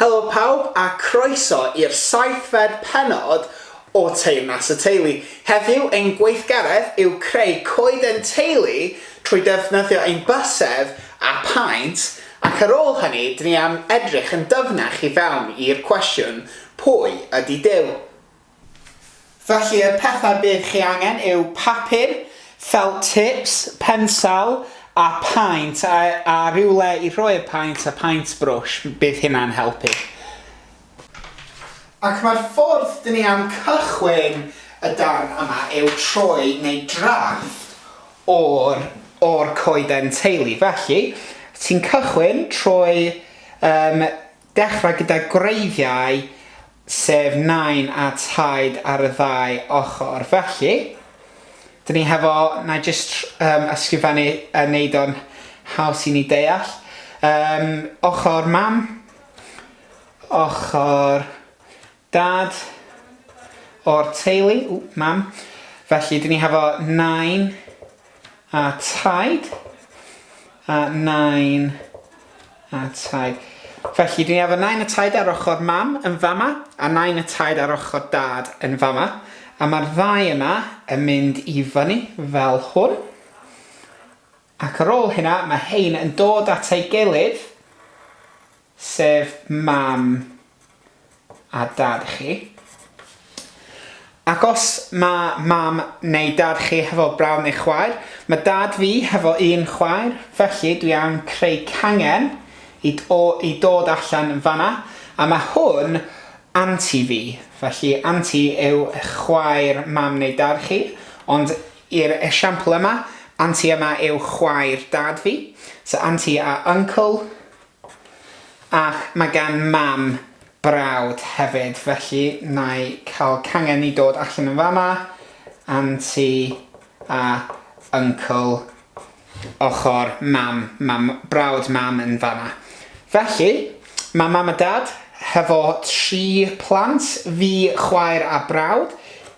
Helo pawb a croeso i'r saethfed pennod o Teyrnas y Teulu. Heddiw ein gweithgaredd yw creu coeden teulu trwy ddefnyddio ein bysedd a phaent ac ar ôl hynny dyn ni am edrych yn dyfnach i fewn i'r cwestiwn, pwy ydy Duw? Felly y pethau bydd chi angen yw papur, felt tips, pensel a paent a a rywle i rhoi'r paent a paent brwsh, bydd hynna'n helpu. Ac mae'r ffordd dyn ni am cychwyn y darn yma yw trwy wneud drafft o'r o'r coeden teulu. Felly, ti'n cychwyn trwy yym Dechrau gyda gwreiddiau, sef nain a taid ar y ddau ochr. Felly, dyn ni hefo, na i jyst um, ysgrifennu a wneud o'n haws i ni deall. Um, ochr mam, ochr Dad o'r teulu, ww, mam. Felly, dyn ni hefo nain a taid. A nain a taid. Felly, dyn ni hefo nain a taid ar ochr mam yn fama, a nain a taid ar ochr dad yn fama. A mae'r ddau yna yn mynd i fyny fel hwn. Ac ar ôl hynna, mae rhein yn dod at ei gilydd, sef mam a dad chi. Ac os mae mam neu dad chi hefo brawd neu chwaer, mae dad fi hefo un chwaer, felly dwi am creu cangen i o i dod allan fanna, a mae hwn anti fi, felly anti yw chwaer mam neu dad chi, ond I'r esiampl yma, Anti yma yw chwaer dad fi, so anti a uncle, ac mae gan mam brawd hefyd, felly na'i cael cangen i dod allan yn fama, anti a uncle ochr mam, mae brawd mam yn fan'na. Felly, mae mam a dad, hefo tri plant, fi, chwaer a brawd,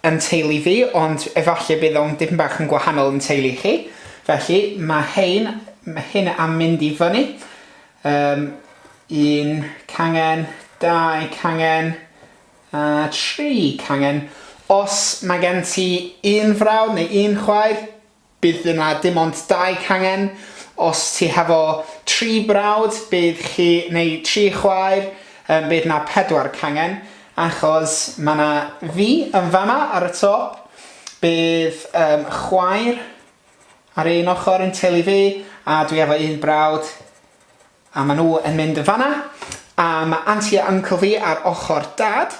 yn teulu fi, ond efallai bydd o'n dipyn bach yn gwahanol yn teulu chi. Felly, mae hein, mae hyn am mynd i fyny. Um, un cangen, dau cangen, a tri cangen. Os mae gen ti un frawd neu un chwaer, Bydd yna dim ond dau cangen. Os ti hefo tri brawd, bydd chi, neu tri chwaer, yym bydd 'na pedwar cangen, achos ma' 'na fi yn fama ar y top, bydd yym chwaer ar un ochr yn teulu fi, a dwi efo un brawd, a ma' nhw yn mynd yn fan'na, a ma' anti a uncle fi ar ochr dad,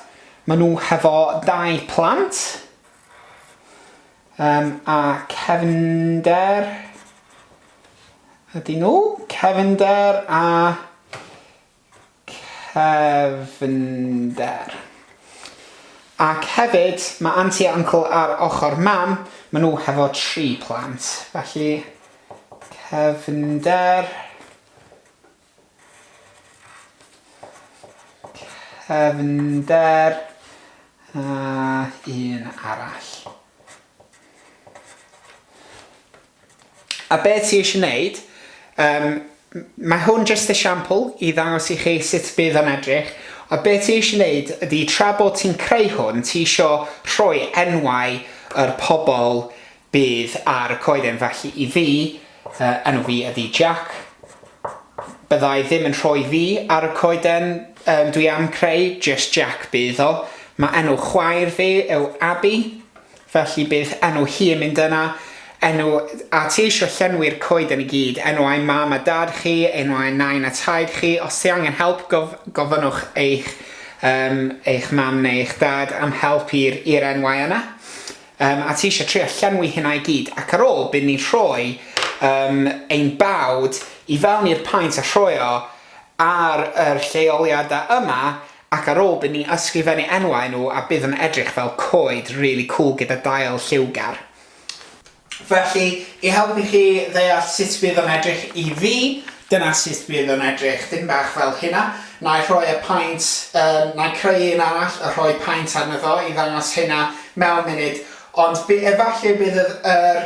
ma' nhw hefo dau plant. Yym a cefnder ydy nhw? Cefnder a cefnder. Ac hefyd, mae anti a uncle ar ochr mam, maen nhw hefo tri plant, felly cefnder Cefnder a un arall. A beth ti eisiau gwneud? Um, mae hwn jyst esiampl i ddangos i chi sut bydd yn edrych. A beth ti eisiau gwneud ydy tra bod ti'n creu hwn, ti eisiau rhoi enwau yr pobl Bydd ar y coeden felly i fi, fy enw fi ydi Jack. Byddai ddim yn rhoi fi ar y coeden um, dwi am creu, just Jack bydd o. Mae enw chwaer fi yw Abby, felly bydd enw hi yn mynd yna. Enw, a ti eisiau llenwi'r coeden i gyd, enw ai mam a dad chi, enw ai nain a taid chi, os ti angen help gof, gofynnwch eich, um, eich mam neu eich dad am help i'r enwau yna. Yym, a ti eisiau trio llenwi hynna i gyd, ac ar ôl byd ni'n rhoi yym ein bawd i fewn i'r paent a rhoi o ar yr lleoliadau yma, ac ar ôl byd ni'n ysgrifennu enwau nhw a bydd yn edrych fel coed rili cwl gyda dail lliwgar. Felly, i helpu chi ddeall sut bydd o'n edrych i fi, Dyna sut bydd o'n edrych, dim bach fel hynna. Na'i rhoi y paent, yym, na'i creu un arall a rhoi paent arno fo i ddangos hynna mewn munud, ond by- efallai bydd yr yr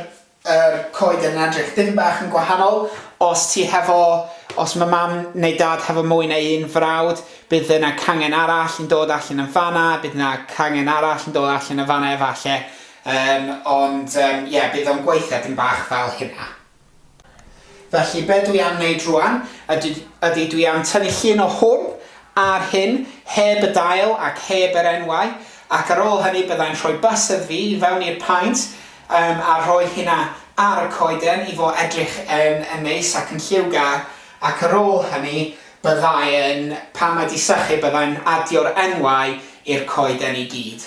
yr coed yn edrych dim bach yn gwahanol, os ti hefo, os ma' mam neu dad hefo mwy na un frawd, bydd yna cangen arall yn dod allan yn fan'na, bydd 'na cangen arall yn dod allan yn fan'na efalle, yym, ond yym ie, bydd o'n gweithio dim bach fel hynna. Felly, be dwi am wneud rŵan ydy, ydy dwi am tynnu llun o hwn a'r hyn, heb y dail ac heb yr enwau, ac ar ôl hynny byddai'n rhoi bysedd fi i fewn i'r paent um, a rhoi hynna ar y coeden i fo edrych yn, yn neis ac yn lliwgar, ac ar ôl hynny byddai'n, pan mae di sychu byddai'n adio'r enwau i'r coeden i gyd.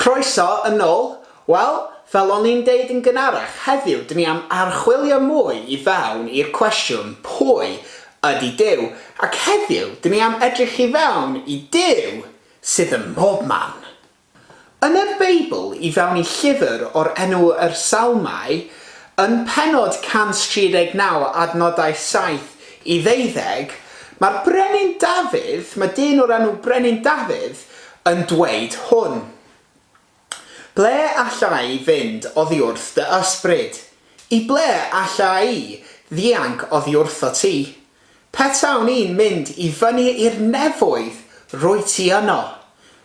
Croeso yn ôl! Wel, fel o'n i'n deud yn gynharach, heddiw dyn ni am archwilio mwy i fewn i'r cwestiwn pwy ydy Duw? Ac heddiw dyn ni am edrych i fewn i Duw sydd ym mhobman. Yn y Beibl, i fewn i llyfr o'r enw Yr Salmau, yn pennod 139 adnodau 7 i ddeuddeg, mae'r brenin Dafydd, mae dyn o'r enw Brenin Dafydd, yn dweud hwn. Ble alla i fynd oddiwrth dy ysbryd? I ble alla i ddianc oddiwrtho ti? Petawn i'n mynd i fyny i'r nefoedd, rwyt ti yno.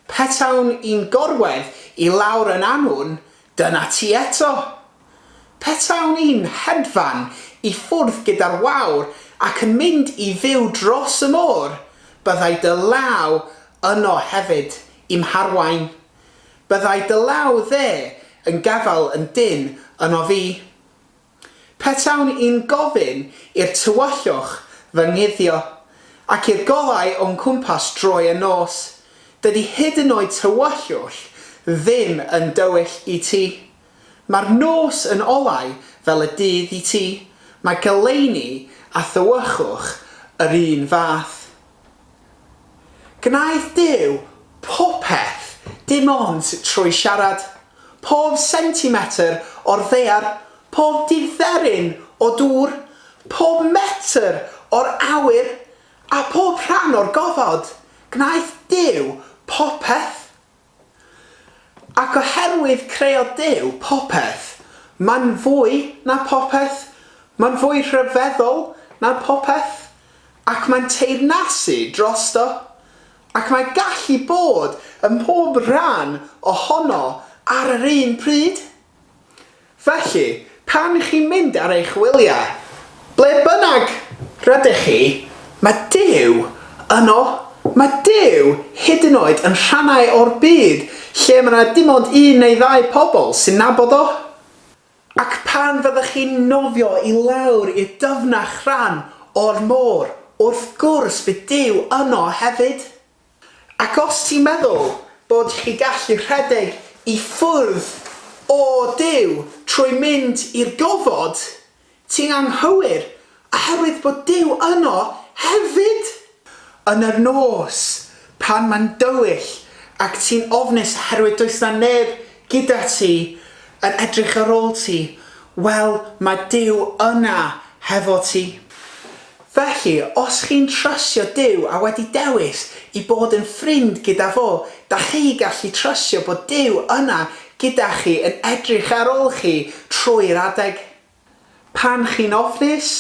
Petawn i'n gorwedd i lawr yn annwn, Dyna ti eto! Petawn i'n hedfan i ffwrdd gyda'r wawr ac yn mynd i fyw dros y môr, byddai dy law yno hefyd, i'm harwain. Byddai dy law dde yn gafael yn dynn ynof i. Petawn i'n gofyn i'r tywyllwch fy nguddio, ac i'r golau o'n cwmpas droi yn nos, dydy hyd yn oed tywyllwch ddim yn dywyll i ti. Mae'r nos yn olau fel y dydd i ti, mae goleuni a thywyllwch yr un fath. Gwnaeth Duw popeth dim ond trwy siarad. Pob sentimetr o'r ddaear, pob diferyn o dŵr, pob metr o'r awyr, a phob rhan o'r gofod, gwnaeth Duw popeth. Ac oherwydd creodd Duw popeth, mae'n fwy na phopeth, mae'n fwy rhyfeddol na phopeth, ac mae'n teyrnasu drosto, ac mae gallu bod ym mhob rhan ohono ar yr un pryd. Felly, pan chi'n mynd ar eich wyliau, ble bynnag rydych chi, mae Duw yno, mae Duw hyd yn oed yn rhannau o'r byd lle mae 'na dim ond un neu ddau pobl sy'n nabod o. Ac pan fyddech chi'n nofio i lawr i'r dyfnach rhan o'r môr, wrth gwrs bydd Duw yno hefyd. Ac os ti'n meddwl bod chi gallu rhedeg i ffwrdd o Duw trwy mynd i'r gofod, ti'n anghywir, oherwydd bod Duw yno hefyd! Yn yr nos, pan mae'n dywyll ac ti'n ofnus oherwydd does 'na neb gyda ti, yn edrych ar ôl ti, wel, mae Duw yna hefo ti. Felly, os chi'n trysio Duw a wedi dewis i bod yn ffrind gyda fo, da chi gallu trysio bod Duw yna gyda chi yn edrych ar ôl chi trwy'r adeg. Pan chi'n ofnus,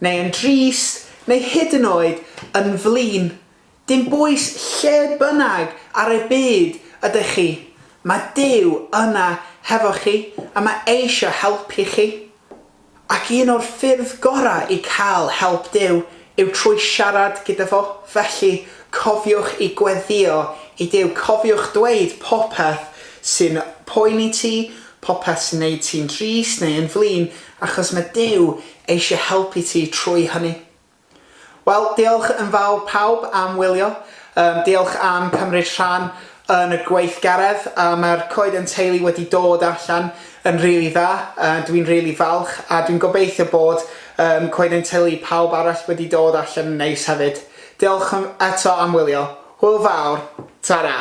neu yn drist, neu hyd yn oed yn flin, Dim bwys lle bynnag ar y byd ydych chi, mae Duw yna hefo chi a mae eisiau helpu chi. Ac un o'r ffyrdd gorau i cael help Duw yw trwy siarad gyda fo, felly cofiwch i gweddïo i Duw, cofiwch dweud popeth sy'n poeni ti, popeth sy'n neud ti'n drist neu yn flin, achos mae Duw eisiau helpu ti trwy hynny. Wel, diolch yn fawr pawb am wylio. Yym, diolch am cymryd rhan yn y gweithgaredd. A mae'r coeden teulu wedi dod allan yn rili dda. Yy, dwi'n rili falch, a dwi'n gobeithio bod yym coeden teulu pawb arall wedi dod allan yn neis hefyd. Diolch yn eto am wylio. Hwyl fawr. Tara!